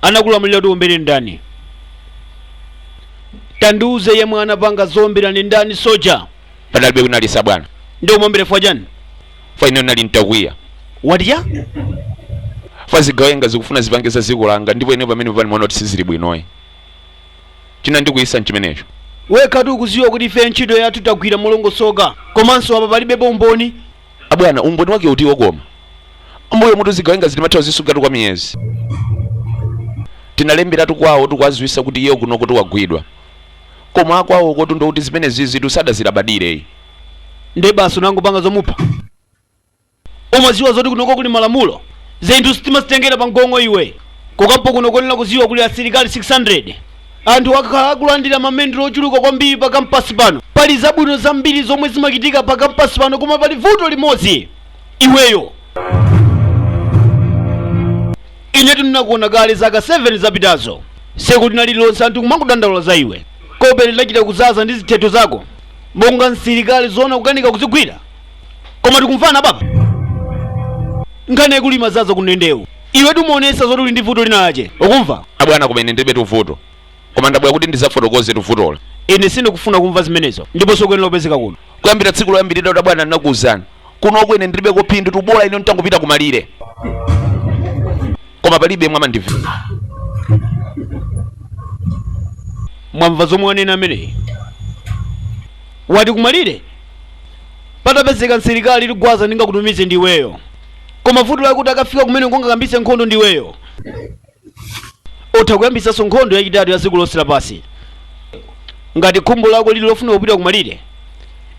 anakulamulira kuti uombere ndani tandiuze yemwe anapanga zowombera ndi ndani soja panalibe kunalisa bwana nde umuombere fwa chani fwa ine nali ntakwiya wati fwa zigawenga zikufuna zipange za dziko langa ndipo ine pamenepa ndimaona kuti sizili bwinoyi chinandikwiyisa mchimenecho. Wekhatu ukuziwa kuti ifeyo ntchito yathu tagwira molongosoka komanso apa palibepo umboni. Abwana umboni wake utiwo koma? Mbuyomutu zigawengazi timatha kuzisungatu kwa miyezi. Tinalemberatu kwawo tikuwaziwisa kuti iye kunokotu wagwidwa. Koma akwawokotu ndi oti zimenezizitu sadazilabadireyi. Nde basi unangopanga zomupha? Umaziwa zoti kunoko kuli malamulo? Zinthu sitimazitengera pa mgong'o iwe. Ku kampu kuno ukuyenera kuziwa kuli asilikali 600. Anthu akhala akulandira mamendulo ochuluka kwambiri pa kampasi pano. Pali zabwino zambiri zomwe zimachitika pa kampasi pano koma pali vuto limodzi. Iweyo. Inetu ndinakuona kale zaka 7 zapitazo. Tsiku lina lililonse anthu kumangodandaula za iwe. Kope linachita kuzaza ndi zithetho zako. Monga msilikali zoona kukanika kuzigwira. koma tikumvana baba nkhani yakulima zaza kundendewu iwetu umaonesa zoti uli ndi vuto linalache ukumva abwana koma ine ndilibetu vuto koma ndabwera kuti ndizafotokozetu vuto la ine sindikufuna kumva zimenezo ndipo sukuyenera kupezeka kuno kuyambira tsiku loyambirira kuti abwana ndinakuwuzani kunoko ine ndilibeko phindutu bola ine nditangopita kumalire koma palibe omwe amandimva mwamva zomwe wanena ameneyi wati kumalire patapezeka msilikali ligwaza ndingakutumize ndiweyo koma vuto lakuti akafika kumeneko angayambise nkhondo ndiweyo utha kuyambisanso nkhondo yachitatu ya dziko lonse lapansi ngati khumbo lako lili lofuna kupita kumalire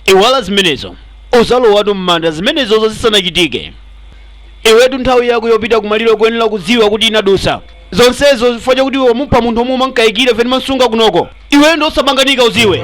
iwala zimenezo uzalowatu m'manda zimenezozo zisanachitike iwetu nthawi yako yopita kumalire ukuyenera kudziwa kuti inadusa zonsezo chifukwa chakuti iwe wamupha munthu omwe umankayikira pamene amansunga kunoko iweyo ndi osapanganika uziwe